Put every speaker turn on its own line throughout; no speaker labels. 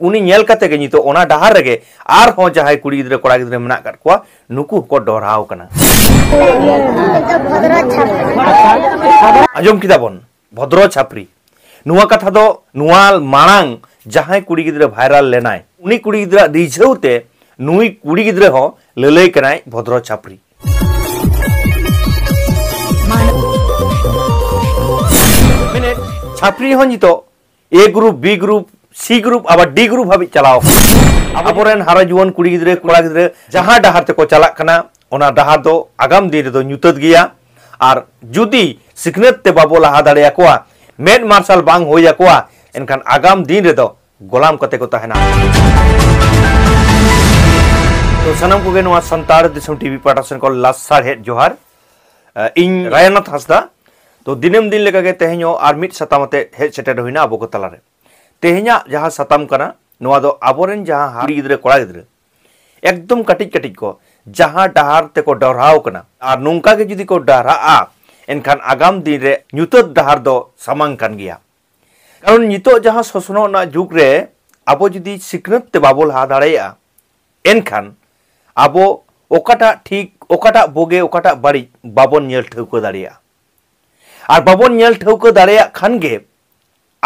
ᱩᱱᱤ ᱧᱮᱞ ᱠᱟᱛᱮ ᱜᱮ ᱱᱤᱛᱚᱜ ᱚᱱᱟ ᱰᱟᱦᱟᱨ ᱨᱮᱜᱮ ᱟᱨᱦᱚᱸ ᱡᱟᱦᱟᱸᱭ ᱠᱩᱲᱤ ᱜᱤᱫᱽᱨᱟᱹ ᱠᱚᱲᱟ ᱜᱤᱫᱽᱨᱟᱹ ᱢᱮᱱᱟᱜ ᱠᱟᱫ ᱠᱚᱣᱟ ᱱᱩᱠᱩ ᱦᱚᱸᱠᱚ ᱰᱚᱨᱦᱟᱣ ᱠᱟᱱᱟ ᱟᱸᱡᱚᱢ ᱠᱮᱫᱟ ᱵᱚᱱ ᱵᱷᱚᱫᱨᱚ ᱪᱷᱟᱯᱨᱤ ᱱᱚᱣᱟ ᱠᱟᱛᱷᱟ ᱫᱚ ᱱᱚᱣᱟ ᱢᱟᱲᱟᱝ ᱡᱟᱦᱟᱸᱭ ᱠᱩᱲᱤ ᱜᱤᱫᱽᱨᱟᱹ ᱵᱷᱟᱭᱨᱟᱞ ᱞᱮᱱᱟᱭ ᱩᱱᱤ ᱠᱩᱲᱤ ᱜᱤᱫᱽᱨᱟᱹ ᱨᱤᱡᱷᱟᱹᱣ ᱛᱮ ᱱᱩᱭ ᱠᱩᱲᱤ ᱜᱤᱫᱽᱨᱟᱹ ᱦᱚᱸ ᱞᱟᱹᱞᱟᱹᱭ ᱠᱟᱱᱟᱭ ᱵᱷᱚᱫᱨᱚ ᱪᱷᱟᱯᱨᱤ ᱢᱮᱱᱮᱫ ᱪᱷᱟᱯᱨᱤ ᱦᱚᱸ ᱱᱤᱛᱚᱜ A group B group C group ᱟᱵᱟᱨ ᱰᱤ ᱜᱨᱩᱯ ᱦᱟᱹᱵᱤᱡ ᱪᱟᱞᱟᱣ ᱟᱵᱚᱨᱮᱱ ᱦᱟᱨᱟ ᱡᱩᱣᱟᱹᱱ ᱠᱩᱲᱤ ᱜᱤᱫᱽᱨᱟᱹ ᱠᱚᱲᱟ ᱜᱤᱫᱽᱨᱟᱹ ᱡᱟᱦᱟᱸ ᱰᱟᱦᱟᱨ ᱛᱮᱠᱚ ᱪᱟᱞᱟᱜ ᱠᱟᱱᱟ ᱚᱱᱟ ᱰᱟᱦᱟᱨ ᱫᱚ ᱟᱜᱟᱢ ᱫᱤᱱ ᱨᱮᱫᱚ ᱧᱩᱛᱟᱹᱛ ᱜᱮᱭᱟ ᱟᱨ ᱡᱩᱫᱤ ᱥᱤᱠᱷᱱᱟᱹᱛ ᱛᱮ ᱵᱟᱵᱚ ᱞᱟᱦᱟ ᱫᱟᱲᱮᱭᱟᱠᱚᱣᱟ ᱢᱮᱫ ᱢᱟᱨᱥᱟᱞ ᱵᱟᱝ ᱦᱩᱭ ᱟᱠᱚᱣᱟ ᱮᱱᱠᱷᱟᱱ ᱟᱜᱟᱢ ᱫᱤᱱ ᱨᱮᱫᱚ ᱜᱚᱞᱟᱢ ᱠᱟᱛᱮ ᱠᱚ ᱛᱟᱦᱮᱱᱟ ᱛᱚ ᱥᱟᱱᱟᱢ ᱠᱚᱜᱮ ᱱᱚᱣᱟ ᱥᱟᱱᱛᱟᱲ ᱫᱤᱥᱚᱢ ᱴᱤᱵᱷᱤ ᱯᱟᱴᱟᱥᱮᱱ ᱠᱚ ᱞᱟᱥᱟᱲᱦᱮᱫ ᱡᱚᱦᱟᱨ ᱤᱧ ᱨᱟᱭᱟᱱᱟᱛᱷ ᱦᱟᱸᱥᱫᱟ ᱛᱚ ᱫᱤᱱᱟᱹᱢ ᱫᱤᱱ ᱞᱮᱠᱟᱜᱮ ᱛᱮᱦᱮᱧ ᱦᱚᱸ ᱟᱨ ᱢᱤᱫ ᱥᱟᱛᱟᱢ ᱟᱛᱮ ᱦᱮᱡ ᱥᱮᱴᱮᱨ ᱦᱩᱭᱱᱟ ᱟᱵᱚ ᱠᱚ ᱛᱟᱞᱟᱨᱮ ᱛᱮᱦᱮᱧᱟᱜ ᱡᱟᱦᱟᱸ ᱥᱟᱛᱟᱢ ᱠᱟᱱᱟ ᱱᱚᱣᱟ ᱫᱚ ᱟᱵᱚᱨᱮᱱ ᱡᱟᱦᱟᱸ ᱠᱩᱲᱤ ᱜᱤᱫᱽᱨᱟᱹ ᱠᱚᱲᱟ ᱜᱤᱫᱽᱨᱟᱹ ᱮᱠᱫᱚᱢ ᱠᱟᱹᱴᱤᱡ ᱠᱟᱹᱴᱤᱡ ᱠᱚ ᱡᱟᱦᱟᱸ ᱰᱟᱦᱟᱨ ᱛᱮᱠᱚ ᱰᱚᱨᱦᱟᱣ ᱠᱟᱱᱟ ᱟᱨ ᱱᱚᱝᱠᱟ ᱜᱮ ᱡᱩᱫᱤ ᱠᱚ ᱰᱟᱦᱨᱟᱜᱼᱟ ᱮᱱᱠᱷᱟᱱ ᱟᱜᱟᱢ ᱫᱤᱱ ᱨᱮ ᱧᱩᱛᱟᱹᱛ ᱰᱟᱦᱟᱨ ᱫᱚ ᱥᱟᱢᱟᱝ ᱠᱟᱱ ᱜᱮᱭᱟ ᱠᱟᱨᱚᱱ ᱱᱤᱛᱚᱜ ᱡᱟᱦᱟᱸ ᱥᱚᱥᱱᱚᱜ ᱨᱮᱱᱟᱜ ᱡᱩᱜᱽ ᱨᱮ ᱟᱵᱚ ᱡᱩᱫᱤ ᱥᱤᱠᱷᱱᱟᱹᱛ ᱛᱮ ᱵᱟᱵᱚ ᱞᱟᱦᱟ ᱫᱟᱲᱮᱭᱟᱜᱼᱟ ᱮᱱᱠᱷᱟᱱ ᱟᱵᱚ ᱚᱠᱟᱴᱟᱜ ᱴᱷᱤᱠ ᱚᱠᱟᱴᱟᱜ ᱵᱳᱜᱮ ᱚᱠᱟᱴᱟᱜ ᱵᱟᱹᱲᱤᱡ ᱵᱟᱵᱚᱱ ᱧᱮᱞ ᱴᱷᱟᱹᱣᱠᱟᱹ ᱫᱟᱲᱮᱭᱟᱜᱼᱟ ᱟᱨ ᱵᱟᱵᱚᱱ ᱧᱮᱞ ᱴᱷᱟᱹᱣᱠᱟᱹ ᱫᱟᱲᱮᱭᱟᱜ ᱠᱷᱟᱱ ᱜᱮ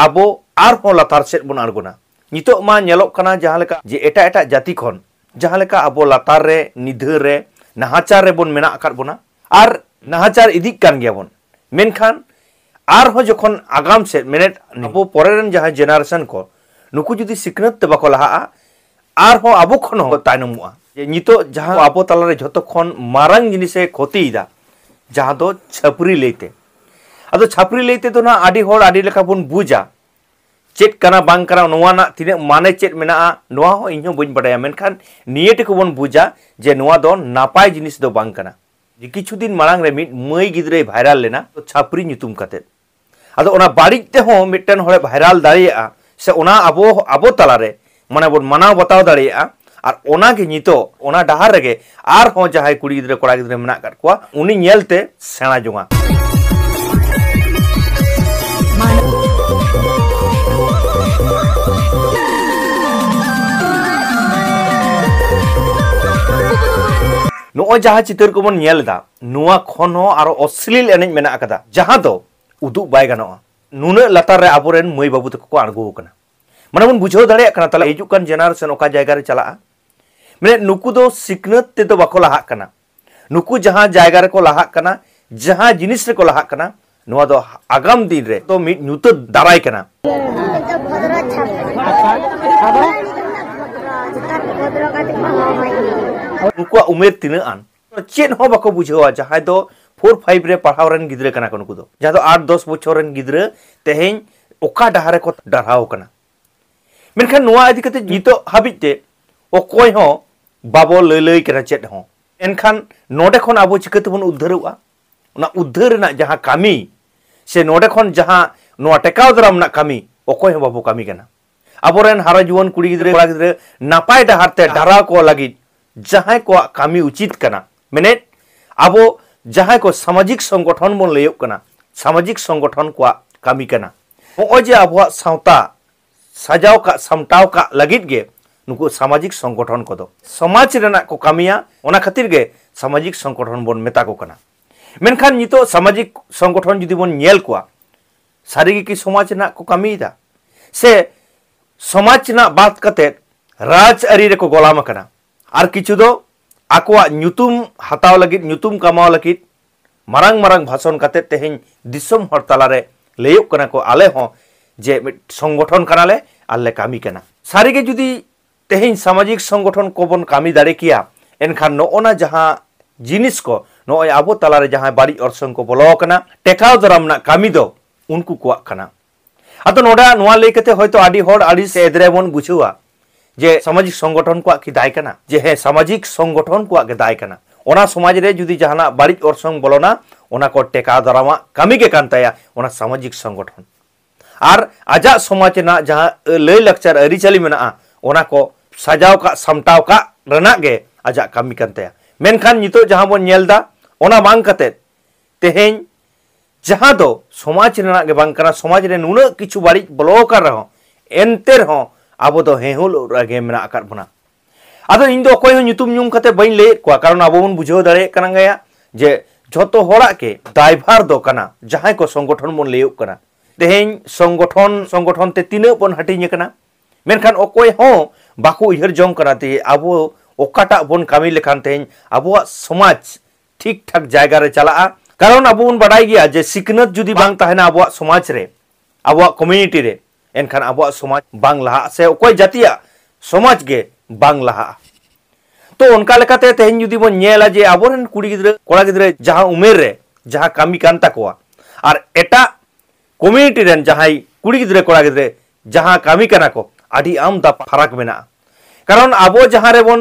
ᱟᱵᱚ ᱟᱨᱦᱚᱸ ᱞᱟᱛᱟᱨ ᱥᱮᱫ ᱵᱚᱱ ᱟᱬᱜᱚᱱᱟ ᱱᱤᱛᱚᱜ ᱢᱟ ᱧᱮᱞᱚᱜ ᱠᱟᱱᱟ ᱡᱟᱦᱟᱸ ᱞᱮᱠᱟ ᱡᱮ ᱮᱴᱟᱜ ᱮᱴᱟᱜ ᱡᱟᱹᱛᱤ ᱠᱷᱚᱱ ᱡᱟᱦᱟᱸ ᱞᱮᱠᱟ ᱟᱵᱚ ᱞᱟᱛᱟᱨ ᱨᱮ ᱱᱤᱫᱷᱟᱹ ᱨᱮ ᱱᱟᱦᱟᱪᱟᱨ ᱨᱮᱵᱚᱱ ᱢᱮᱱᱟᱜ ᱟᱠᱟᱫ ᱵᱚᱱᱟ ᱟᱨ ᱱᱟᱦᱟᱪᱟᱨ ᱤᱫᱤᱜ ᱠᱟᱱ ᱜᱮᱭᱟ ᱵᱚᱱ ᱢᱮᱱᱠᱷᱟᱱ ᱟᱨᱦᱚᱸ ᱡᱚᱠᱷᱚᱱ ᱟᱜᱟᱢ ᱥᱮᱫ ᱢᱮᱱᱮᱫ ᱟᱵᱚ ᱯᱚᱨᱮ ᱨᱮᱱ ᱡᱟᱦᱟᱸ ᱡᱮᱱᱟᱨᱮᱥᱚᱱ ᱠᱚ ᱱᱩᱠᱩ ᱡᱩᱫᱤ ᱥᱤᱠᱷᱱᱟᱹᱛ ᱛᱮ ᱵᱟᱠᱚ ᱞᱟᱦᱟᱜᱼᱟ ᱟᱨᱦᱚᱸ ᱟᱵᱚ ᱠᱷᱚᱱ ᱦᱚᱸ ᱛᱟᱭᱱᱚᱢᱚᱜᱼᱟ ᱡᱮ ᱱᱤᱛᱚᱜ ᱡᱟᱦᱟᱸ ᱟᱵᱚ ᱛᱟᱞᱟᱨᱮ ᱡᱷᱚᱛᱚ ᱠᱷᱚᱱ ᱢᱟᱨᱟᱝ ᱡᱤᱱᱤᱥᱮ ᱠᱷᱚᱛᱤᱭᱮᱫᱟ ᱡᱟᱦᱟᱸ ᱫᱚ ᱪᱷᱟᱹᱯᱨᱤ ᱞᱟᱹᱭᱛᱮ ᱟᱫᱚ ᱪᱷᱟᱹᱯᱨᱤ ᱞᱟᱹᱭᱛᱮ ᱫᱚ ᱱᱟᱜ ᱟᱹᱰᱤ ᱦᱚᱲ ᱟᱹᱰᱤ ᱞᱮᱠᱟ ᱵᱚᱱ ᱵᱩᱡᱟ ᱪᱮᱫ ᱠᱟᱱᱟ ᱵᱟᱝ ᱠᱟᱱᱟ ᱱᱚᱣᱟ ᱨᱮᱱᱟᱜ ᱛᱤᱱᱟᱹᱜ ᱢᱟᱱᱮ ᱪᱮᱫ ᱢᱮᱱᱟᱜᱼᱟ ᱱᱚᱣᱟ ᱦᱚᱸ ᱤᱧ ᱦᱚᱸ ᱵᱟᱹᱧ ᱵᱟᱰᱟᱭᱟ ᱢᱮᱱᱠᱷᱟᱱ ᱱᱤᱭᱟᱹ ᱴᱩᱠᱩ ᱵᱚᱱ ᱵᱩᱡᱟ ᱡᱮ ᱱᱚᱣᱟ ᱫᱚ ᱱᱟᱯᱟᱭ ᱡᱤᱱᱤᱥ ᱫᱚ ᱵᱟᱝ ᱠᱟᱱᱟ ᱡᱮ ᱠᱤᱪᱷᱩ ᱫᱤᱱ ᱢᱟᱲᱟᱝ ᱨᱮ ᱢᱤᱫ ᱢᱟᱹᱭ ᱜᱤᱫᱽᱨᱟᱹᱭ ᱵᱷᱟᱭᱨᱟᱞ ᱞᱮᱱᱟ ᱪᱷᱟᱯᱨᱤ ᱧᱩᱛᱩᱢ ᱠᱟᱛᱮ ᱟᱫᱚ ᱚᱱᱟ ᱵᱟᱹᱲᱤᱡ ᱛᱮᱦᱚᱸ ᱢᱤᱫᱴᱮᱱ ᱦᱚᱲᱮ ᱵᱷᱟᱭᱨᱟᱞ ᱫᱟᱲᱮᱭᱟᱜᱼᱟ ᱥᱮ ᱚᱱᱟ ᱟᱵᱚ ᱟᱵᱚ ᱛᱟᱞᱟᱨᱮ ᱢᱟᱱᱮ ᱵᱚᱱ ᱢᱟᱱᱟᱣ ᱵᱟᱛᱟᱣ ᱫᱟᱲᱮᱭᱟᱜᱼᱟ ᱟᱨ ᱚᱱᱟ ᱜᱮ ᱱᱤᱛᱚᱜ ᱚᱱᱟ ᱰᱟᱦᱟᱨ ᱨᱮᱜᱮ ᱟᱨᱦᱚᱸ ᱡᱟᱦᱟᱸᱭ ᱠᱩᱲᱤ ᱜᱤᱫᱽᱨᱟᱹ ᱠᱚᱲᱟ ᱜᱤᱫᱽᱨᱟᱹ ᱢᱮᱱᱟᱜ ᱟᱠᱟᱫ ᱠᱚᱣᱟ ᱩᱱᱤ ᱧᱮᱞᱛᱮ ᱥᱮᱬᱟ ᱡᱚᱝᱟ ᱱᱚᱜᱼᱚᱭ ᱡᱟᱦᱟᱸ ᱪᱤᱛᱟᱹᱨ ᱠᱚᱵᱚᱱ ᱧᱮᱞ ᱮᱫᱟ ᱱᱚᱣᱟ ᱠᱷᱚᱱ ᱦᱚᱸ ᱟᱨᱚ ᱚᱥᱞᱤᱞ ᱮᱱᱮᱡ ᱢᱮᱱᱟᱜ ᱟᱠᱟᱫᱟ ᱡᱟᱦᱟᱸ ᱫᱚ ᱩᱫᱩᱜ ᱵᱟᱭ ᱜᱟᱱᱚᱜᱼᱟ ᱱᱩᱱᱟᱹᱜ ᱞᱟᱛᱟᱨ ᱨᱮ ᱟᱵᱚᱨᱮᱱ ᱢᱟᱹᱭ ᱵᱟᱹᱵᱩ ᱛᱟᱠᱚ ᱠᱚ ᱟᱬᱜᱚ ᱟᱠᱟᱱᱟ ᱢᱟᱱᱮ ᱵᱚᱱ ᱵᱩᱡᱷᱟᱹᱣ ᱫᱟᱲᱮᱭᱟᱜ ᱠᱟᱱᱟ ᱛᱟᱦᱚᱞᱮ ᱦᱤᱡᱩᱜ ᱠᱟᱱ ᱡᱮᱱᱟᱨᱮᱥᱚᱱ ᱚᱠᱟ ᱡᱟᱭᱜᱟ ᱨᱮ ᱪᱟᱞᱟᱜᱼᱟ ᱢᱟᱱᱮ ᱱᱩᱠᱩ ᱫᱚ ᱥᱤᱠᱷᱱᱟᱹᱛ ᱛᱮᱫᱚ ᱵᱟᱠᱚ ᱞᱟᱦᱟᱜ ᱠᱟᱱᱟ ᱱᱩᱠᱩ ᱡᱟᱦᱟᱸ ᱡᱟᱭᱜᱟ ᱨᱮᱠᱚ ᱞᱟᱦᱟᱜ ᱠᱟᱱᱟ ᱡᱟᱦᱟᱸ ᱡᱤᱱᱤᱥ ᱨᱮᱠᱚ ᱞᱟᱦᱟᱜ ᱠᱟᱱᱟ ᱱᱚᱣᱟ ᱫᱚ ᱟᱜᱟᱢ ᱫᱤᱱ ᱨᱮ ᱫᱚ ᱢᱤᱫ ᱧᱩᱛᱟᱹᱛ ᱫᱟᱨᱟᱭ ᱠᱟᱱᱟ ᱱᱩᱠᱩᱣᱟᱜ ᱩᱢᱮᱨ ᱛᱤᱱᱟᱹᱜ ᱟᱱ ᱪᱮᱫ ᱦᱚᱸ ᱵᱟᱠᱚ ᱵᱩᱡᱷᱟᱹᱣᱟ ᱡᱟᱦᱟᱸᱭ ᱫᱚ ᱯᱷᱳᱨ ᱯᱷᱟᱭᱤᱵᱷ ᱨᱮ ᱯᱟᱲᱦᱟᱣ ᱨᱮᱱ ᱜᱤᱫᱽᱨᱟᱹ ᱠᱟᱱᱟ ᱠᱚ ᱱᱩᱠᱩ ᱫᱚ ᱡᱟᱦᱟᱸ ᱫᱚ ᱟᱴ ᱫᱚᱥ ᱵᱚᱪᱷᱚᱨ ᱨᱮᱱ ᱜᱤᱫᱽᱨᱟᱹ ᱛᱮᱦᱮᱧ ᱚᱠᱟ ᱰᱟᱦᱟᱨ ᱨᱮᱠᱚ ᱰᱟᱨᱦᱟᱣ ᱠᱟᱱᱟ ᱢᱮᱱᱠᱷᱟᱱ ᱱᱚᱣᱟ ᱤᱫᱤ ᱠᱟᱛᱮ ᱱᱤᱛᱚᱜ ᱦᱟᱹᱵᱤᱡ ᱛᱮ ᱚᱠᱚᱭ ᱦᱚᱸ ᱵᱟᱵᱚ ᱞᱟᱹᱭ ᱞᱟᱹᱭ ᱠᱟᱱᱟ ᱪᱮᱫ ᱦᱚᱸ ᱮᱱᱠᱷᱟᱱ ᱱᱚᱰᱮ ᱠᱷᱚᱱ ᱟᱵᱚ ᱪᱤᱠᱟᱹ ᱛᱮᱵᱚᱱ ᱩᱫᱽᱫᱷᱟᱹᱨᱚᱜᱼᱟ ᱚᱱᱟ ᱩᱫᱽᱫᱷᱟᱹᱨ ᱨᱮᱱᱟᱜ ᱡᱟᱦᱟᱸ ᱠᱟᱹᱢᱤ ᱥᱮ ᱱᱚᱰᱮ ᱠᱷᱚᱱ ᱡᱟᱦᱟᱸ ᱱᱚᱣᱟ ᱴᱮᱠᱟᱣ ᱫᱟᱨᱟᱢ ᱨᱮᱱᱟᱜ ᱠᱟᱹᱢᱤ ᱚᱠᱚᱭ ᱦᱚᱸ ᱵᱟᱵᱚ ᱠᱟᱹᱢᱤ ᱠᱟᱱᱟ ᱟᱵᱚᱨᱮᱱ ᱦᱟᱨᱟ ᱡᱩᱣᱟᱹᱱ ᱠᱩᱲᱤ ᱜᱤᱫᱽᱨᱟᱹ ᱠᱚᱲᱟ ᱜᱤᱫᱽᱨᱟᱹ ᱱᱟᱯᱟᱭ ᱰᱟᱦᱟᱨ ᱛᱮ ᱰᱟᱨᱟᱣ ᱠᱚ ᱞᱟᱹᱜᱤᱫ ᱡᱟᱦᱟᱸᱭ ᱠᱚᱣᱟᱜ ᱠᱟᱹᱢᱤ ᱩᱪᱤᱛ ᱠᱟᱱᱟ ᱢᱮᱱᱮᱫ ᱟᱵᱚ ᱡᱟᱦᱟᱸᱭ ᱠᱚ ᱥᱟᱢᱟᱡᱤᱠ ᱥᱚᱝᱜᱚᱴᱷᱚᱱ ᱵᱚᱱ ᱞᱟᱹᱭᱚᱜ ᱠᱟᱱᱟ ᱥᱟᱢᱟᱡᱤᱠ ᱥᱚᱝᱜᱚᱴᱷᱚᱱ ᱠᱚᱣᱟᱜ ᱠᱟᱹᱢᱤ ᱠᱟᱱᱟ ᱱᱚᱜᱼᱚᱭ ᱡᱮ ᱟᱵᱚᱣᱟᱜ ᱥᱟᱶᱛᱟ ᱥᱟᱡᱟᱣ ᱠᱟᱜ ᱥᱟᱢᱴᱟᱣ ᱠᱟᱜ ᱞᱟᱹᱜᱤᱫ ᱜᱮ ᱱᱩᱠᱩ ᱥᱟᱢᱟᱡᱤᱠ ᱥᱚᱝᱜᱚᱴᱷᱚᱱ ᱠᱚᱫᱚ ᱥᱚᱢᱟᱡᱽ ᱨᱮᱱᱟᱜ ᱠᱚ ᱠᱟᱹᱢᱤᱭᱟ ᱚᱱᱟ ᱠᱷᱟᱹᱛᱤᱨ ᱜᱮ ᱥᱟᱢᱟᱡᱤᱠ ᱥᱚᱝᱜᱚᱴᱷᱚᱱ ᱵᱚᱱ ᱢᱮᱛᱟ ᱠᱚ ᱠᱟᱱᱟ ᱢᱮᱱᱠᱷᱟᱱ ᱱᱤᱛᱚᱜ ᱥᱟᱢᱟᱡᱤᱠ ᱥᱚᱝᱜᱚᱴᱷᱚᱱ ᱡᱩᱫᱤ ᱵᱚᱱ ᱧᱮᱞ ᱠᱚᱣᱟ ᱥᱟᱹᱨᱤ ᱜᱮ ᱠᱤ ᱥᱚᱢᱟᱡᱽ ᱨᱮᱱᱟᱜ ᱠᱚ ᱠᱟᱹᱢᱤᱭᱮᱫᱟ ᱥᱮ ᱥᱚᱢᱟᱡᱽ ᱨᱮᱱᱟᱜ ᱵᱟᱫ ᱠᱟᱛᱮ ᱨᱟᱡᱽ ᱟᱹᱨᱤ ᱨᱮᱠᱚ ᱜᱚᱞᱟᱢ ᱟᱠᱟᱱᱟ ᱟᱨ ᱠᱤᱪᱷᱩ ᱫᱚ ᱟᱠᱚᱣᱟᱜ ᱧᱩᱛᱩᱢ ᱦᱟᱛᱟᱣ ᱞᱟᱹᱜᱤᱫ ᱧᱩᱛᱩᱢ ᱠᱟᱢᱟᱣ ᱞᱟᱹᱜᱤᱫ ᱢᱟᱨᱟᱝ ᱢᱟᱨᱟᱝ ᱵᱷᱟᱥᱚᱱ ᱠᱟᱛᱮ ᱛᱮᱦᱮᱧ ᱫᱤᱥᱚᱢ ᱦᱚᱲ ᱛᱟᱞᱟᱨᱮ ᱞᱟᱹᱭᱚᱜ ᱠᱟᱱᱟ ᱠᱚ ᱟᱞᱮ ᱦᱚᱸ ᱡᱮ ᱢᱤᱫ ᱥᱚᱝᱜᱚᱴᱷᱚᱱ ᱠᱟᱱᱟᱞᱮ ᱟᱨ ᱞᱮ ᱠᱟᱹᱢᱤ ᱠᱟᱱᱟ ᱥᱟᱹᱨᱤ ᱜᱮ ᱡᱩᱫᱤ ᱛᱮᱦᱮᱧ ᱥᱟᱢᱟᱡᱤᱠ ᱥᱚᱝᱜᱚᱴᱷᱚᱱ ᱠᱚ ᱵᱚᱱ ᱠᱟᱹᱢᱤ ᱫᱟᱲᱮ ᱠᱮᱭᱟ ᱮᱱᱠᱷᱟᱱ ᱱᱚᱜᱼᱚᱱᱟ ᱡᱟᱦᱟᱸ ᱡᱤᱱᱤᱥ ᱠᱚ ᱱᱚᱜᱼᱚᱭ ᱟᱵᱚ ᱛᱟᱞᱟᱨᱮ ᱡᱟᱦᱟᱸ ᱵᱟᱹᱲᱤᱡ ᱚᱨᱥᱚᱝ ᱠᱚ ᱵᱚᱞᱚ ᱟᱠᱟᱱᱟ ᱴᱮᱠᱟᱣ ᱫᱟᱨᱟᱢ ᱨᱮᱱᱟᱜ ᱠᱟᱹᱢᱤ ᱫᱚ ᱩᱱᱠᱩ ᱠᱚᱣᱟᱜ ᱠᱟᱱᱟ ᱟᱫᱚ ᱱᱚᱰᱮ ᱱᱚᱣᱟ ᱞᱟᱹᱭ ᱠᱟᱛᱮ ᱦᱚᱭᱛᱚ ᱟᱹᱰᱤ ᱦᱚᱲ ᱟᱹᱰᱤ ᱮᱫᱽᱨᱮ ᱵᱚᱱ ᱵᱩᱡᱷᱟᱹᱣᱟ ᱡᱮ ᱥᱟᱢᱟᱡᱤᱠ ᱥᱚᱝᱜᱚᱴᱷᱚᱱ ᱠᱚᱣᱟᱜ ᱠᱤ ᱫᱟᱭ ᱠᱟᱱᱟ ᱡᱮ ᱦᱮᱸ ᱥᱟᱢᱟᱡᱤᱠ ᱥᱚᱝᱜᱚᱴᱷᱚᱱ ᱠᱚᱣᱟᱜ ᱜᱮ ᱫᱟᱭ ᱠᱟᱱᱟ ᱚᱱᱟ ᱥᱚᱢᱟᱡᱽ ᱨᱮ ᱡᱩᱫᱤ ᱡᱟᱦᱟᱱᱟᱜ ᱵᱟᱹᱲᱤᱡ ᱚᱨᱥᱚᱝ ᱵᱚᱞᱚᱱᱟ ᱚᱱᱟ ᱠᱚ ᱴᱮᱠᱟᱣ ᱫᱟᱨᱟᱢᱟᱜ ᱠᱟᱹᱢᱤ ᱜᱮ ᱠᱟᱱ ᱛᱟᱭᱟ ᱚᱱᱟ ᱥᱟᱢᱟᱡᱤᱠ ᱥᱚᱝᱜᱚᱴᱷᱚᱱ ᱟᱨ ᱟᱡᱟᱜ ᱥᱚᱢᱟᱡᱽ ᱨᱮᱱᱟᱜ ᱡᱟᱦᱟᱸ ᱞᱟᱹᱭ ᱞᱟᱠᱪᱟᱨ ᱟᱹᱨᱤᱪᱟᱹᱞᱤ ᱢᱮᱱᱟᱜᱼᱟ ᱚᱱᱟ ᱠᱚ ᱥᱟᱡᱟᱣ ᱠᱟᱜ ᱥᱟᱢᱴᱟᱣ ᱠᱟᱜ ᱨᱮᱱᱟᱜ ᱜᱮ ᱟᱡᱟᱜ ᱠᱟᱹᱢᱤ ᱠᱟᱱ ᱛᱟᱭᱟ ᱢᱮᱱᱠᱷᱟᱱ ᱱᱤᱛᱚᱜ ᱡᱟᱦᱟᱸ ᱵᱚᱱ ᱧᱮᱞ ᱮᱫᱟ ᱚᱱᱟ ᱵᱟᱝ ᱠᱟᱛᱮ ᱛᱮᱦᱮᱧ ᱡᱟᱦᱟᱸ ᱫᱚ ᱥᱚᱢᱟᱡᱽ ᱨᱮᱱᱟᱜ ᱜᱮ ᱵᱟᱝ ᱠᱟᱱᱟ ᱥᱚᱢᱟᱡᱽ ᱨᱮ ᱱᱩᱱᱟᱹᱜ ᱠᱤᱪᱷᱩ ᱵᱟᱹᱲᱤᱡ ᱵᱚᱞᱚ ᱟᱠᱟᱱ ᱨᱮᱦᱚᱸ ᱮᱱᱛᱮ ᱨᱮᱦᱚᱸ ᱟᱵᱚ ᱫᱚ ᱦᱮᱦᱩᱞ ᱨᱮᱜᱮ ᱢᱮᱱᱟᱜ ᱟᱠᱟᱫ ᱵᱚᱱᱟ ᱟᱫᱚ ᱤᱧ ᱫᱚ ᱚᱠᱚᱭ ᱦᱚᱸ ᱧᱩᱛᱩᱢ ᱧᱩᱢ ᱠᱟᱛᱮ ᱵᱟᱹᱧ ᱞᱟᱹᱭᱮᱫ ᱠᱚᱣᱟ ᱠᱟᱨᱚᱱ ᱟᱵᱚ ᱵᱚᱱ ᱵᱩᱡᱷᱟᱹᱣ ᱫᱟᱲᱮᱭᱟᱜ ᱠᱟᱱᱟ ᱜᱮᱭᱟ ᱡᱮ ᱡᱷᱚᱛᱚ ᱦᱚᱲᱟᱜ ᱜᱮ ᱫᱟᱭᱵᱷᱟᱨ ᱫᱚ ᱠᱟᱱᱟ ᱡᱟᱦᱟᱸᱭ ᱠᱚ ᱥᱚᱝᱜᱚᱴᱷᱚᱱ ᱵᱚᱱ ᱞᱟᱹᱭᱚᱜ ᱠᱟᱱᱟ ᱛᱮᱦᱮᱧ ᱥᱚᱝᱜᱚᱴᱷᱚᱱ ᱥᱚᱝᱜᱚᱴᱷᱚᱱ ᱛᱮ ᱛᱤᱱᱟᱹᱜ ᱵᱚᱱ ᱦᱟᱹᱴᱤᱧ ᱟᱠᱟᱱᱟ ᱢᱮᱱᱠᱷᱟᱱ ᱚᱠᱚᱭ ᱦᱚᱸ ᱵᱟᱠᱚ ᱩᱭᱦᱟᱹᱨ ᱡᱚᱝ ᱠᱟᱱᱟ ᱛᱮ ᱟᱵᱚ ᱚᱠᱟᱴᱟᱜ ᱵᱚᱱ ᱠᱟᱹᱢᱤ ᱞᱮᱠᱷᱟᱱ ᱛᱮᱦᱮᱧ ᱟᱵᱚᱣᱟᱜ ᱥᱚᱢᱟᱡᱽ ᱴᱷᱤᱠ ᱴᱷᱟᱠ ᱡᱟᱭᱜᱟ ᱨᱮ ᱪᱟᱞᱟᱜᱼᱟ ᱠᱟᱨᱚᱱ ᱟᱵᱚ ᱵᱚᱱ ᱵᱟᱰᱟᱭ ᱜᱮᱭᱟ ᱡᱮ ᱥᱤᱠᱷᱱᱟᱹᱛ ᱡᱩᱫᱤ ᱵᱟᱝ ᱛᱟᱦᱮᱱᱟ ᱟᱵᱚᱣᱟᱜ ᱥᱚᱢᱟᱡᱽ ᱨᱮ ᱟᱵᱚᱣᱟᱜ ᱠᱚᱢᱤᱭᱩᱱᱤᱴᱤ ᱨᱮ ᱮᱱᱠᱷᱟᱱ ᱟᱵᱚᱣᱟᱜ ᱥᱚᱢᱟᱡᱽ ᱵᱟᱝ ᱞᱟᱦᱟᱜᱼᱟ ᱥᱮ ᱚᱠᱚᱭ ᱡᱟᱹᱛᱤᱭᱟᱜ ᱥᱚᱢᱟᱡᱽ ᱜᱮ ᱵᱟᱝ ᱞᱟᱦᱟᱜᱼᱟ ᱛᱚ ᱚᱱᱠᱟ ᱞᱮᱠᱟᱛᱮ ᱛᱮᱦᱮᱧ ᱡᱩᱫᱤ ᱵᱚᱱ ᱧᱮᱞᱟ ᱡᱮ ᱟᱵᱚᱨᱮᱱ ᱠᱩᱲᱤ ᱜᱤᱫᱽᱨᱟᱹ ᱠᱚᱲᱟ ᱜᱤᱫᱽᱨᱟᱹ ᱡᱟᱦᱟᱸ ᱩᱢᱮᱨ ᱨᱮ ᱡᱟᱦᱟᱸ ᱠᱟᱹᱢᱤ ᱠᱟᱱ ᱛᱟᱠᱚᱣᱟ ᱟᱨ ᱮᱴᱟᱜ ᱠᱚᱢᱤᱭᱩᱱᱤᱴᱤ ᱨᱮᱱ ᱡᱟᱦᱟᱸᱭ ᱠᱩᱲᱤ ᱜᱤᱫᱽᱨᱟᱹ ᱠᱚᱲᱟ ᱜᱤᱫᱽᱨᱟᱹ ᱡᱟᱦᱟᱸ ᱠᱟᱹᱢᱤ ᱠᱟᱱᱟ ᱠᱚ ᱟᱹᱰᱤ ᱟᱢᱫᱟ ᱯᱷᱟᱨᱟᱠ ᱢᱮᱱᱟᱜᱼᱟ ᱠᱟᱨᱚᱱ ᱟᱵᱚ ᱡᱟᱦᱟᱸ ᱨᱮᱵᱚᱱ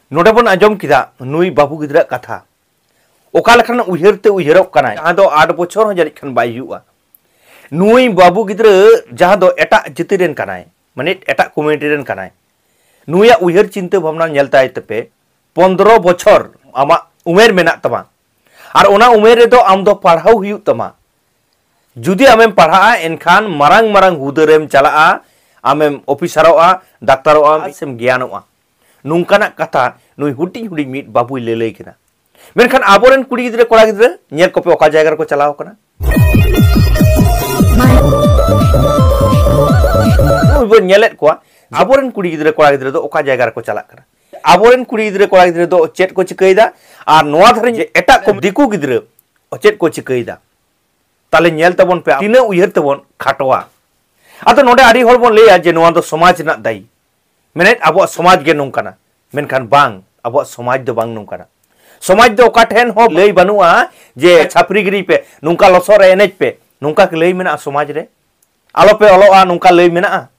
ᱱᱚᱰᱮ
ᱵᱚᱱ ᱟᱸᱡᱚᱢ
ᱠᱮᱫᱟ ᱱᱩᱭ ᱵᱟᱹᱵᱩ ᱜᱤᱫᱽᱨᱟᱹ ᱠᱟᱛᱷᱟ ᱚᱠᱟ ᱞᱮᱠᱟᱱ ᱩᱭᱦᱟᱹᱨ ᱛᱮ ᱩᱭᱦᱟᱹᱨᱚᱜ ᱠᱟᱱᱟᱭ ᱡᱟᱦᱟᱸ ᱫᱚ ᱟᱴ ᱵᱚᱪᱷᱚᱨ ᱦᱚᱸ ᱡᱟᱹᱱᱤᱡ ᱠᱷᱟᱱ ᱵᱟᱭ ᱦᱩᱭᱩᱜᱼᱟ ᱱᱩᱭ ᱵᱟᱹᱵᱩ ᱜᱤᱫᱽᱨᱟᱹ ᱡᱟᱦᱟᱸ ᱫᱚ ᱮᱴᱟᱜ ᱡᱟᱹᱛᱤ ᱨᱮᱱ ᱠᱟᱱᱟᱭ ᱢᱟᱱᱮ ᱮᱴᱟᱜ ᱠᱚᱢᱤᱭᱩᱱᱤᱴᱤ ᱨᱮᱱ ᱠᱟᱱᱟᱭ ᱱᱩᱭᱟᱜ ᱩᱭᱦᱟᱹᱨ ᱪᱤᱱᱛᱟᱹ ᱵᱷᱟᱵᱽᱱᱟ ᱧᱮᱞ ᱛᱟᱭ ᱛᱮᱯᱮ ᱯᱚᱱᱫᱨᱚ ᱵᱚᱪᱷᱚᱨ ᱟᱢᱟᱜ ᱩᱢᱮᱨ ᱢᱮᱱᱟᱜ ᱛᱟᱢᱟ ᱟᱨ ᱚᱱᱟ ᱩᱢᱮᱨ ᱨᱮᱫᱚ ᱟᱢ ᱫᱚ ᱯᱟᱲᱦᱟᱣ ᱦᱩᱭᱩᱜ ᱛᱟᱢᱟ ᱡᱩᱫᱤ ᱟᱢᱮᱢ ᱯᱟᱲᱦᱟᱜᱼᱟ ᱮᱱᱠᱷᱟᱱ ᱢᱟᱨᱟᱝ ᱢᱟᱨᱟᱝ ᱦᱩᱫᱟᱹ ᱨᱮᱢ ᱪᱟᱞᱟᱜᱼᱟ ᱟᱢᱮᱢ ᱚᱯᱷᱤᱥᱟᱨᱚᱜᱼᱟ ᱫᱟᱠᱛᱟᱨᱚᱜᱼᱟ ᱥᱮᱢ ᱜᱮᱭᱟᱱᱚᱜᱼᱟ ᱱᱚᱝᱠᱟᱱᱟᱜ ᱠᱟᱛᱷᱟ ᱱᱩᱭ ᱦᱩᱰᱤᱧ ᱦᱩᱰᱤᱧ ᱢᱤᱫ ᱵᱟᱹᱵᱩᱭ ᱞᱟᱹᱞᱟᱹᱭ ᱠᱟᱱᱟ ᱢᱮᱱᱠᱷᱟᱱ ᱟᱵᱚᱨᱮᱱ ᱠᱩᱲᱤ ᱜᱤᱫᱽᱨᱟᱹ ᱠᱚᱲᱟ ᱜᱤᱫᱽᱨᱟᱹ ᱧᱮᱞ ᱠᱚᱯᱮ ᱚᱠᱟ ᱡᱟᱭᱜᱟ ᱨᱮᱠᱚ ᱪᱟᱞᱟᱣ ᱠᱟᱱᱟ ᱱᱩᱭ ᱵᱚᱱ ᱧᱮᱞᱮᱫ ᱠᱚᱣᱟ ᱟᱵᱚᱨᱮᱱ ᱠᱩᱲᱤ ᱜᱤᱫᱽᱨᱟᱹ ᱠᱚᱲᱟ ᱜᱤᱫᱽᱨᱟᱹ ᱫᱚ ᱚᱠᱟ ᱡᱟᱭᱜᱟ ᱨᱮᱠᱚ ᱪᱟᱞᱟᱜ ᱠᱟᱱᱟ ᱟᱵᱚᱨᱮᱱ ᱠᱩᱲᱤ ᱜᱤᱫᱽᱨᱟᱹ ᱠᱚᱲᱟ ᱜᱤᱫᱽᱨᱟᱹ ᱫᱚ ᱪᱮᱫ ᱠᱚ ᱪᱤᱠᱟᱹᱭᱮᱫᱟ ᱟᱨ ᱱᱚᱣᱟ ᱫᱷᱟᱨᱮ ᱮᱴᱟᱜ ᱠᱚ ᱫᱤᱠᱩ ᱜᱤᱫᱽᱨᱟᱹ ᱪᱮᱫ ᱠᱚ ᱪᱤᱠᱟᱹᱭᱮᱫᱟ ᱛᱟᱦᱞᱮ ᱧᱮᱞ ᱛᱟᱵᱚᱱ ᱯᱮ ᱛᱤᱱᱟᱹᱜ ᱩᱭᱦᱟᱹᱨ ᱛᱮᱵᱚᱱ ᱠᱷᱟᱴᱚᱣᱟ ᱟᱫᱚ ᱱᱚᱰᱮ ᱟᱹᱰᱤ ᱦᱚᱲ ᱵᱚᱱ ᱞᱟᱹᱭᱟ ᱡᱮ ᱱᱚᱣᱟ ᱫᱚ ᱥᱚᱢᱟᱡᱽ ᱨᱮᱱᱟᱜ ᱫᱟᱭᱤ ᱢᱮᱱᱮᱫ ᱟᱵᱚᱣᱟᱜ ᱥᱚᱢᱟᱡᱽ ᱜᱮ ᱱᱚᱝᱠᱟᱱᱟ ᱢᱮᱱᱠᱷᱟᱱ ᱵᱟᱝ ᱟᱵᱚᱣᱟᱜ ᱥᱚᱢᱟᱡᱽ ᱫᱚ ᱵᱟᱝ ᱱᱚᱝᱠᱟᱱᱟ ᱥᱚᱢᱟᱡᱽ ᱫᱚ ᱚᱠᱟ ᱴᱷᱮᱱ ᱦᱚᱸ ᱞᱟᱹᱭ ᱵᱟᱹᱱᱩᱜᱼᱟ ᱡᱮ ᱪᱷᱟᱯᱨᱤ ᱜᱤᱨᱤ ᱯᱮ ᱱᱚᱝᱠᱟ ᱞᱚᱥᱚᱫ ᱨᱮ ᱮᱱᱮᱡ ᱯᱮ ᱱᱚᱝᱠᱟ ᱞᱟᱹᱭ ᱢᱮᱱᱟᱜᱼᱟ ᱥᱚᱢᱟᱡᱽ ᱨᱮ ᱟᱞᱚ ᱯᱮ ᱚᱞᱚᱜᱼᱟ ᱱᱚᱝᱠᱟ ᱞᱟᱹᱭ ᱢᱮᱱᱟᱜᱼᱟ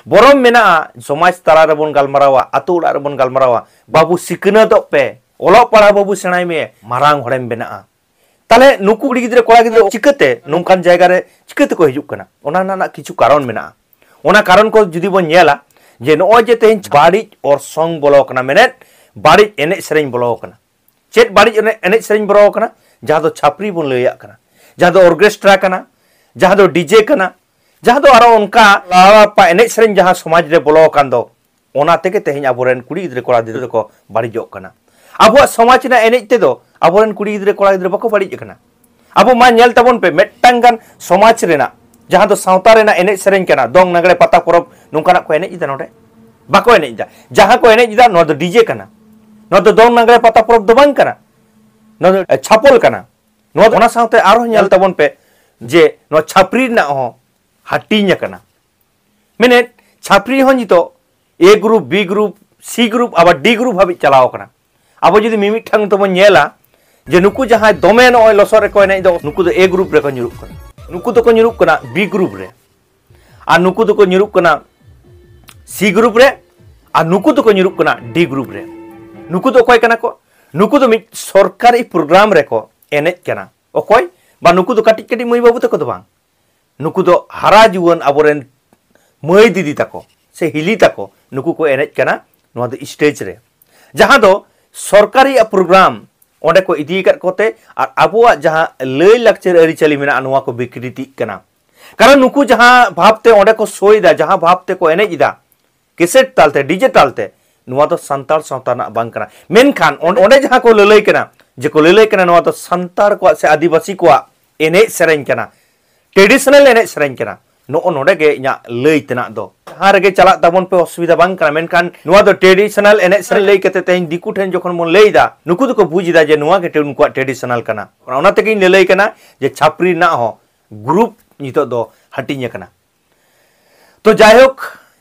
ᱵᱚᱨᱚᱢ ᱢᱮᱱᱟᱜᱼᱟ ᱥᱚᱢᱟᱡᱽ ᱛᱟᱞᱟ ᱨᱮᱵᱚᱱ ᱜᱟᱞᱢᱟᱨᱟᱣᱟ ᱟᱛᱳ ᱚᱲᱟᱜ ᱨᱮᱵᱚᱱ ᱜᱟᱞᱢᱟᱨᱟᱣᱟ ᱵᱟᱹᱵᱩ ᱥᱤᱠᱷᱱᱟᱹᱛᱚᱜ ᱯᱮ ᱚᱞᱚᱜ ᱯᱟᱲᱦᱟᱣ ᱵᱟᱹᱵᱩ ᱥᱮᱬᱟᱭ ᱢᱮ ᱢᱟᱨᱟᱝ ᱦᱚᱲᱮᱢ ᱵᱮᱱᱟᱜᱼᱟ ᱛᱟᱦᱞᱮ ᱱᱩᱠᱩ ᱠᱩᱲᱤ ᱜᱤᱫᱽᱨᱟᱹ ᱠᱚᱲᱟ ᱜᱤᱫᱽᱨᱟᱹ ᱪᱤᱠᱟᱹᱛᱮ ᱱᱚᱝᱠᱟᱱ ᱡᱟᱭᱜᱟ ᱨᱮ ᱪᱤᱠᱟᱹᱛᱮ ᱠᱚ ᱦᱤᱡᱩᱜ ᱠᱟᱱᱟ ᱚᱱᱟ ᱨᱮᱱᱟᱜ ᱠᱤᱪᱷᱩ ᱠᱟᱨᱚᱱ ᱢᱮᱱᱟᱜᱼᱟ ᱚᱱᱟ ᱠᱟᱨᱚᱱ ᱠᱚ ᱡᱩᱫᱤ ᱵᱚᱱ ᱧᱮᱞᱟ ᱡᱮ ᱱᱚᱜᱼᱚᱭ ᱡᱮ ᱛᱮᱦᱮᱧ ᱵᱟᱹᱲᱤᱡ ᱚᱨᱥᱚᱝ ᱵᱚᱞᱚ ᱠᱟᱱᱟ ᱢᱮᱱᱮᱫ ᱵᱟᱹᱲᱤᱡ ᱮᱱᱮᱡ ᱥᱮᱨᱮᱧ ᱵᱚᱞᱚ ᱠᱟᱱᱟ ᱪᱮᱫ ᱵᱟᱹᱲᱤᱡ ᱮᱱᱮᱡ ᱥᱮᱨᱮᱧ ᱵᱚᱞᱚ ᱠᱟᱱᱟ ᱡᱟᱦᱟᱸ ᱫᱚ ᱪᱷᱟᱯᱨᱤ ᱵᱚᱱ ᱞᱟᱹᱭᱟᱜ ᱠᱟᱱᱟ ᱡᱟᱦᱟᱸ ᱫᱚ ᱚᱨᱜᱮᱥᱴᱨᱟ ᱠᱟᱱᱟ ᱡᱟᱦᱟᱸ ᱫᱚ ᱰᱤᱡᱮ ᱠᱟᱱᱟ ᱡᱟᱦᱟᱸ ᱫᱚ ᱟᱨᱚ ᱚᱱᱠᱟ ᱮᱱᱮᱡ ᱥᱮᱨᱮᱧ ᱡᱟᱦᱟᱸ ᱥᱚᱢᱟᱡᱽ ᱨᱮ ᱵᱚᱞᱚ ᱟᱠᱟᱱ ᱫᱚ ᱚᱱᱟ ᱛᱮᱜᱮ ᱛᱮᱦᱮᱧ ᱟᱵᱚᱨᱮᱱ ᱠᱩᱲᱤ ᱜᱤᱫᱽᱨᱟᱹ ᱠᱚᱲᱟ ᱜᱤᱫᱽᱨᱟᱹ ᱫᱚᱠᱚ ᱵᱟᱹᱲᱤᱡᱚᱜ ᱠᱟᱱᱟ ᱟᱵᱚᱣᱟᱜ ᱥᱚᱢᱟᱡᱽ ᱨᱮᱱᱟᱜ ᱮᱱᱮᱡ ᱛᱮᱫᱚ ᱟᱵᱚᱨᱮᱱ ᱠᱩᱲᱤ ᱜᱤᱫᱽᱨᱟᱹ ᱠᱚᱲᱟ ᱜᱤᱫᱽᱨᱟᱹ ᱵᱟᱠᱚ ᱵᱟᱹᱲᱤᱡ ᱟᱠᱟᱱᱟ ᱟᱵᱚ ᱢᱟ ᱧᱮᱞ ᱛᱟᱵᱚᱱ ᱯᱮ ᱢᱤᱫᱴᱟᱝ ᱜᱟᱱ ᱥᱚᱢᱟᱡᱽ ᱨᱮᱱᱟᱜ ᱡᱟᱦᱟᱸ ᱫᱚ ᱥᱟᱶᱛᱟ ᱨᱮᱱᱟᱜ ᱮᱱᱮᱡ ᱥᱮᱨᱮᱧ ᱠᱟᱱᱟ ᱫᱚᱝ ᱱᱟᱜᱽᱲᱮ ᱯᱟᱛᱟ ᱯᱚᱨᱚᱵᱽ ᱱᱚᱝᱠᱟᱱᱟᱜ ᱠᱚ ᱮᱱᱮᱡ ᱮᱫᱟ ᱱᱚᱰᱮ ᱵᱟᱠᱚ ᱮᱱᱮᱡ ᱮᱫᱟ ᱡᱟᱦᱟᱸ ᱠᱚ ᱮᱱᱮᱡ ᱮᱫᱟ ᱱᱚᱣᱟ ᱫᱚ ᱰᱤᱡᱮ ᱠᱟᱱᱟ ᱱᱚᱣᱟ ᱫᱚ ᱫᱚᱝ ᱱᱟᱜᱽᱲᱮ ᱯᱟᱛᱟ ᱯᱚᱨᱚᱵᱽ ᱫᱚ ᱵᱟᱝ ᱠᱟᱱᱟ ᱱᱚᱣᱟ ᱫᱚ ᱪᱷᱟᱯᱚᱞ ᱠᱟᱱᱟ ᱱᱚᱣᱟ ᱫᱚ ᱚᱱᱟ ᱥᱟᱶᱛᱮ ᱟᱨᱦᱚᱸ ᱧᱮᱞ ᱛᱟᱵᱚᱱ ᱯᱮ ᱡᱮ ᱱᱚᱣᱟ ᱪᱷᱟᱯᱨᱤ ᱨᱮᱱᱟᱜ ᱦᱚᱸ ᱦᱟᱹᱴᱤᱧ ᱟᱠᱟᱱᱟ ᱢᱮᱱᱮᱫ ᱪᱷᱟᱯᱨᱤ ᱦᱚᱸ ᱱᱤᱛᱚᱜ A group B group C group ᱟᱵᱟᱨ ᱰᱤ ᱜᱨᱩᱯ ᱦᱟᱹᱵᱤᱡ ᱪᱟᱞᱟᱣ ᱟᱠᱟᱱᱟ ᱟᱵᱚ ᱡᱩᱫᱤ ᱢᱤᱢᱤᱫᱴᱟᱝ ᱛᱮᱵᱚᱱ ᱧᱮᱞᱟ ᱡᱮ ᱱᱩᱠᱩ ᱡᱟᱦᱟᱸᱭ ᱫᱚᱢᱮ ᱱᱚᱜᱼᱚᱭ ᱞᱚᱥᱚᱫ ᱨᱮᱠᱚ ᱮᱱᱮᱡ ᱫᱚ ᱱᱩᱠᱩ ᱫᱚ ᱮ ᱜᱨᱩᱯ ᱨᱮᱠᱚ ᱧᱩᱨᱩᱜ ᱠᱟᱱᱟ ᱱᱩᱠᱩ ᱫᱚᱠᱚ ᱧᱩᱨᱩᱜ ᱠᱟᱱᱟ ᱵᱤ ᱜᱨᱩᱯ ᱨᱮ ᱟᱨ ᱱᱩᱠᱩ ᱫᱚᱠᱚ ᱧᱩᱨᱩᱜ ᱠᱟᱱᱟ ᱥᱤ ᱜᱨᱩᱯ ᱨᱮ ᱟᱨ ᱱᱩᱠᱩ ᱫᱚᱠᱚ ᱧᱩᱨᱩᱜ ᱠᱟᱱᱟ ᱰᱤ ᱜᱨᱩᱯ ᱨᱮ ᱱᱩᱠᱩ ᱫᱚ ᱚᱠᱚᱭ ᱠᱟᱱᱟ ᱠᱚ ᱱᱩᱠᱩ ᱫᱚ ᱢᱤᱫ ᱥᱚᱨᱠᱟᱨᱤ ᱯᱨᱳᱜᱨᱟᱢ ᱨᱮᱠᱚ ᱮᱱᱮᱡ ᱠᱟᱱᱟ ᱚᱠᱚᱭ ᱵᱟ ᱱᱩᱠᱩ ᱫᱚ ᱠᱟᱹᱴᱤᱡ ᱠᱟᱹᱴᱤᱡ ᱢᱟᱹᱭ ᱵᱟᱹᱵᱩ ᱛᱟᱠᱚ ᱫᱚ ᱵᱟᱝ ᱱᱩᱠᱩ ᱫᱚ ᱦᱟᱨᱟ ᱡᱩᱣᱟᱹᱱ ᱟᱵᱚᱨᱮᱱ ᱢᱟᱹᱭ ᱫᱤᱫᱤ ᱛᱟᱠᱚ ᱥᱮ ᱦᱤᱞᱤ ᱛᱟᱠᱚ ᱱᱩᱠᱩ ᱠᱚ ᱮᱱᱮᱡ ᱠᱟᱱᱟ ᱱᱚᱣᱟ ᱫᱚ ᱥᱴᱮᱡᱽ ᱨᱮ ᱡᱟᱦᱟᱸ ᱫᱚ ᱥᱚᱨᱠᱟᱨᱤᱭᱟᱜ ᱯᱨᱳᱜᱨᱟᱢ ᱚᱸᱰᱮ ᱠᱚ ᱤᱫᱤ ᱟᱠᱟᱫ ᱠᱚᱛᱮ ᱟᱨ ᱟᱵᱚᱣᱟᱜ ᱡᱟᱦᱟᱸ ᱞᱟᱹᱭ ᱞᱟᱠᱪᱟᱨ ᱟᱹᱨᱤᱪᱟᱹᱞᱤ ᱢᱮᱱᱟᱜᱼᱟ ᱱᱚᱣᱟ ᱠᱚ ᱵᱤᱠᱨᱤᱛᱤᱜ ᱠᱟᱱᱟ ᱠᱟᱨᱚᱱ ᱱᱩᱠᱩ ᱡᱟᱦᱟᱸ ᱵᱷᱟᱵᱽᱛᱮ ᱚᱸᱰᱮ ᱠᱚ ᱥᱳᱭ ᱮᱫᱟ ᱡᱟᱦᱟᱸ ᱵᱷᱟᱵᱽᱛᱮ ᱠᱚ ᱮᱱᱮᱡ ᱮᱫᱟ ᱠᱮᱥᱮᱴ ᱛᱟᱞᱛᱮ ᱰᱤᱡᱮ ᱛᱟᱞᱛᱮ ᱱᱚᱣᱟ ᱫᱚ ᱥᱟᱱᱛᱟᱲ ᱥᱟᱶᱛᱟ ᱨᱮᱱᱟᱜ ᱵᱟᱝ ᱠᱟᱱᱟ ᱢᱮᱱᱠᱷᱟᱱ ᱚᱸᱰᱮ ᱡᱟᱦᱟᱸ ᱠᱚ ᱞᱟᱹᱞᱟᱹᱭ ᱠᱟᱱᱟ ᱡᱮ ᱠᱚ ᱞᱟᱹᱞᱟᱹᱭ ᱠᱟᱱᱟ ᱱᱚᱣᱟ ᱫᱚ ᱥᱟᱱᱛᱟᱲ ᱠᱚᱣᱟᱜ ᱥᱮ ᱟᱹᱫᱤᱵᱟᱹᱥᱤ ᱠᱚᱣᱟᱜ ᱮᱱᱮᱡ ᱥᱮᱨᱮᱧ ᱠᱟᱱᱟ ᱴᱨᱮᱰᱤᱥᱚᱱᱟᱞ ᱮᱱᱮᱡ ᱥᱮᱨᱮᱧ ᱠᱟᱱᱟ ᱱᱚᱜᱼᱚ ᱱᱚᱰᱮ ᱜᱮ ᱤᱧᱟᱹᱜ ᱞᱟᱹᱭ ᱛᱮᱱᱟᱜ ᱫᱚ ᱡᱟᱦᱟᱸ ᱨᱮᱜᱮ ᱪᱟᱞᱟᱜ ᱛᱟᱵᱚᱱ ᱯᱮ ᱚᱥᱩᱵᱤᱫᱷᱟ ᱵᱟᱝ ᱠᱟᱱᱟ ᱢᱮᱱᱠᱷᱟᱱ ᱱᱚᱣᱟ ᱫᱚ ᱴᱨᱮᱰᱤᱥᱚᱱᱟᱞ ᱮᱱᱮᱡ ᱥᱮᱨᱮᱧ ᱞᱟᱹᱭ ᱠᱟᱛᱮ ᱛᱮᱦᱮᱧ ᱫᱤᱠᱩ ᱴᱷᱮᱱ ᱡᱚᱠᱷᱚᱱ ᱵᱚᱱ ᱞᱟᱹᱭᱫᱟ ᱱᱩᱠᱩ ᱫᱚᱠᱚ ᱵᱩᱡᱽ ᱮᱫᱟ ᱡᱮ ᱱᱚᱣᱟ ᱜᱮ ᱩᱱᱠᱩᱣᱟᱜ ᱴᱨᱮᱰᱤᱥᱚᱱᱟᱞ ᱠᱟᱱᱟ ᱚᱱᱟ ᱛᱮᱜᱮᱧ ᱞᱟᱹᱞᱟᱹᱭ ᱠᱟᱱᱟ ᱡᱮ ᱪᱷᱟᱯᱨᱤ ᱨᱮᱱᱟᱜ ᱦᱚᱸ ᱜᱨᱩᱯ ᱱᱤᱛᱚᱜ ᱫᱚ ᱦᱟᱹᱴᱤᱧ ᱟᱠᱟᱱᱟ ᱛᱚ ᱡᱟᱭᱦᱳᱠ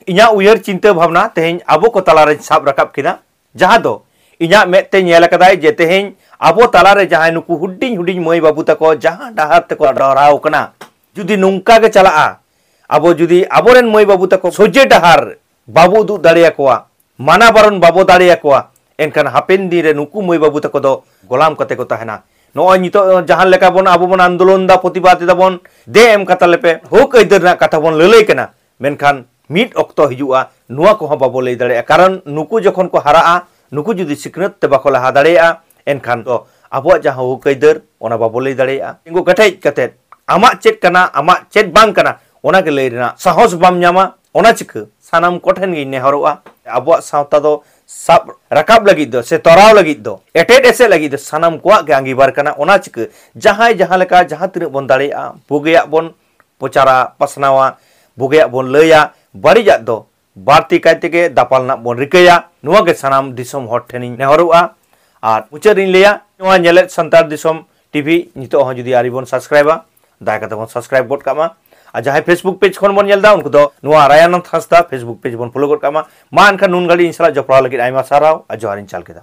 ᱤᱧᱟᱹᱜ ᱩᱭᱦᱟᱹᱨ ᱪᱤᱱᱛᱟᱹ ᱵᱷᱟᱵᱽᱱᱟ ᱛᱮᱦᱮᱧ ᱟᱵᱚ ᱠᱚ ᱛᱟᱞᱟᱨᱮᱧ ᱥᱟᱵ ᱨᱟᱠᱟᱵ ᱠᱮᱫᱟ ᱡᱟᱦᱟᱸ ᱫᱚ ᱤᱧᱟᱹᱜ ᱢᱮᱫ ᱛᱮ ᱧᱮᱞ ᱟᱠᱟᱫᱟᱭ ᱡᱮ ᱛᱮᱦᱮᱧ ᱟᱵᱚ ᱛᱟᱞᱟᱨᱮ ᱡᱟᱦᱟᱸᱭ ᱱᱩᱠᱩ ᱦᱩᱰᱤᱧ ᱦᱩᱰᱤᱧ ᱢᱟᱹᱭ ᱵᱟᱹᱵᱩ ᱛᱟᱠᱚ ᱡᱟᱦᱟᱸ ᱰᱟᱦᱟᱨ ᱛᱮᱠᱚ ᱰᱚᱦᱨᱟᱣ ᱠᱟᱱᱟ ᱡᱩᱫᱤ ᱱᱚᱝᱠᱟ ᱜᱮ ᱪᱟᱞᱟᱜᱼᱟ ᱟᱵᱚ ᱡᱩᱫᱤ ᱟᱵᱚᱨᱮᱱ ᱢᱟᱹᱭ ᱵᱟᱹᱵᱩ ᱛᱟᱠᱚ ᱥᱚᱡᱷᱮ ᱰᱟᱦᱟᱨ ᱵᱟᱵᱚ ᱩᱫᱩᱜ ᱫᱟᱲᱮᱭᱟᱠᱚᱣᱟ ᱢᱟᱱᱟ ᱵᱟᱨᱚᱱ ᱵᱟᱵᱚ ᱫᱟᱲᱮ ᱟᱠᱚᱣᱟ ᱮᱱᱠᱷᱟᱱ ᱦᱟᱯᱮᱱ ᱫᱤᱱ ᱨᱮ ᱱᱩᱠᱩ ᱢᱟᱹᱭ ᱵᱟᱹᱵᱩ ᱛᱟᱠᱚ ᱫᱚ ᱜᱚᱞᱟᱢ ᱠᱟᱛᱮ ᱠᱚ ᱛᱟᱦᱮᱱᱟ ᱱᱚᱜᱼᱚᱭ ᱱᱤᱛᱚᱜ ᱡᱟᱦᱟᱸ ᱞᱮᱠᱟ ᱵᱚᱱ ᱟᱵᱚ ᱵᱚᱱ ᱟᱱᱫᱳᱞᱚᱱ ᱮᱫᱟ ᱯᱨᱚᱛᱤᱵᱟᱫ ᱮᱫᱟ ᱵᱚᱱ ᱫᱮ ᱮᱢ ᱠᱟᱛᱟ ᱞᱮᱯᱮ ᱦᱚᱠ ᱟᱹᱭᱫᱟᱹᱨ ᱨᱮᱱᱟᱜ ᱠᱟᱛᱷᱟ ᱵᱚᱱ ᱞᱟᱹᱞᱟᱹᱭ ᱠᱟᱱᱟ ᱢᱮᱱᱠᱷᱟᱱ ᱢᱤᱫ ᱚᱠᱛᱚ ᱦᱤᱡᱩᱜᱼᱟ ᱱᱚᱣᱟ ᱠᱚᱦᱚᱸ ᱵᱟᱵᱚ ᱞᱟᱹᱭ ᱫᱟᱲᱮᱭᱟᱜᱼᱟ ᱠᱟᱨᱚᱱ ᱱᱩᱠᱩ ᱡᱚᱠᱷᱚᱱ ᱠᱚ ᱦᱟᱨᱟᱜᱼᱟ ᱱᱩᱠᱩ ᱡᱩᱫᱤ ᱥᱤᱠᱷᱱᱟᱹᱛ ᱛᱮ ᱵᱟᱠᱚ ᱞᱟᱦᱟ ᱫᱟᱲᱮᱭᱟᱜᱼᱟ ᱮᱱᱠᱷᱟᱱ ᱫᱚ ᱟᱵᱚᱣᱟᱜ ᱡᱟᱦᱟᱸ ᱦᱚᱠ ᱟᱹᱭᱫᱟᱹᱨ ᱚᱱᱟ ᱵᱟᱵᱚ ᱞᱟᱹᱭ ᱫᱟᱲᱮᱭᱟᱜᱼᱟ ᱛᱤᱸᱜᱩ ᱠᱮᱴᱮᱡ ᱠᱟᱛᱮ ᱟᱢᱟᱜ ᱪᱮᱫ ᱠᱟᱱᱟ ᱟᱢᱟᱜ ᱪᱮᱫ ᱵᱟᱝ ᱠᱟᱱᱟ ᱚᱱᱟ ᱜᱮ ᱞᱟᱹᱭ ᱨᱮᱱᱟᱜ ᱥᱟᱦᱚᱥ ᱵᱟᱢ ᱧᱟᱢᱟ ᱚᱱᱟ ᱪᱤᱠᱟᱹ ᱥᱟᱱᱟᱢ ᱠᱚ ᱴᱷᱮᱱ ᱜᱤᱧ ᱱᱮᱦᱚᱨᱚᱜᱼᱟ ᱟᱵᱚᱣᱟᱜ ᱥᱟᱶᱛᱟ ᱫᱚ ᱥᱟᱵ ᱨᱟᱠᱟᱵ ᱞᱟᱹᱜᱤᱫ ᱫᱚ ᱥᱮ ᱛᱚᱨᱟᱣ ᱞᱟᱹᱜᱤᱫ ᱫᱚ ᱮᱴᱮᱫ ᱮᱥᱮᱫ ᱞᱟᱹᱜᱤᱫ ᱫᱚ ᱥᱟᱱᱟᱢ ᱠᱚᱣᱟᱜ ᱜᱮ ᱟᱸᱜᱤᱵᱷᱟᱨ ᱠᱟᱱᱟ ᱚᱱᱟ ᱪᱤᱠᱟᱹ ᱡᱟᱦᱟᱸᱭ ᱡᱟᱦᱟᱸ ᱞᱮᱠᱟ ᱡᱟᱦᱟᱸ ᱛᱤᱱᱟᱹᱜ ᱵᱚᱱ ᱫᱟᱲᱮᱭᱟᱜᱼᱟ ᱵᱩᱜᱤᱭᱟᱜ ᱵᱚᱱ ᱯᱨᱚᱪᱟᱨᱟ ᱯᱟᱥᱱᱟᱣᱟ ᱵᱩᱜᱤᱭᱟᱜ ᱵᱚᱱ ᱞᱟᱹᱭᱟ ᱵᱟᱹᱲᱤᱡᱟᱜ ᱫᱚ ᱵᱟᱹᱲᱛᱤ ᱠᱟᱭ ᱛᱮᱜᱮ ᱫᱟᱯᱟᱞ ᱨᱮᱱᱟᱜ ᱵᱚᱱ ᱨᱤᱠᱟᱹᱭᱟ ᱱᱚᱣᱟ ᱜᱮ ᱥᱟᱱᱟᱢ ᱫᱤᱥᱚᱢ ᱦᱚᱲ ᱴᱷᱮᱱ ᱤᱧ ᱱᱮᱦᱚᱨᱚᱜᱼᱟ ᱟᱨ ᱢᱩᱪᱟᱹᱫ ᱨᱤᱧ ᱞᱟᱹᱭᱟ ᱱᱚᱣᱟ ᱧᱮᱞᱮᱫ ᱥᱟᱱᱛᱟᱲ ᱫᱤᱥᱚᱢ ᱴᱤᱵᱷᱤ ᱱᱤᱛᱚᱜ ᱦᱚᱸ ᱡᱩᱫᱤ ᱟᱹᱣᱨᱤ ᱵᱚᱱ ᱥᱟᱵᱥᱠᱨᱟᱭᱤᱵᱟ ᱫᱟᱭᱟ ᱠᱟᱛᱮ ᱵᱚᱱ ᱥᱟᱵᱥᱠᱨᱟᱭᱤᱵ ᱜᱚᱫ ᱠᱟᱜ ᱢᱟ ᱟᱨ ᱡᱟᱦᱟᱸᱭ ᱯᱷᱮᱥᱵᱩᱠ ᱯᱮᱡᱽ ᱠᱷᱚᱱ ᱵᱚᱱ ᱧᱮᱞ ᱮᱫᱟ ᱩᱱᱠᱩ ᱫᱚ ᱱᱚᱣᱟ ᱨᱟᱭᱟᱱᱚᱱᱫ ᱦᱟᱸᱥᱫᱟ ᱯᱷᱮᱥᱵᱩᱠ ᱯᱮᱡᱽ ᱵᱚᱱ ᱯᱷᱚᱞᱳ ᱜᱚᱫ ᱠᱟᱜ ᱢᱟ ᱢᱟ ᱮᱱᱠᱷᱟᱱ ᱱᱩᱱ ᱜᱷᱟᱹᱲᱤᱡ ᱤᱧ ᱥᱟᱞᱟᱜ ᱡᱚᱯᱲᱟᱣ ᱞᱟᱹᱜᱤᱫ ᱟᱭᱢᱟ ᱥᱟᱨᱦᱟᱣ ᱟᱨ ᱡᱚᱦᱟᱨᱤᱧ ᱪᱟᱞ ᱠᱮᱫᱟ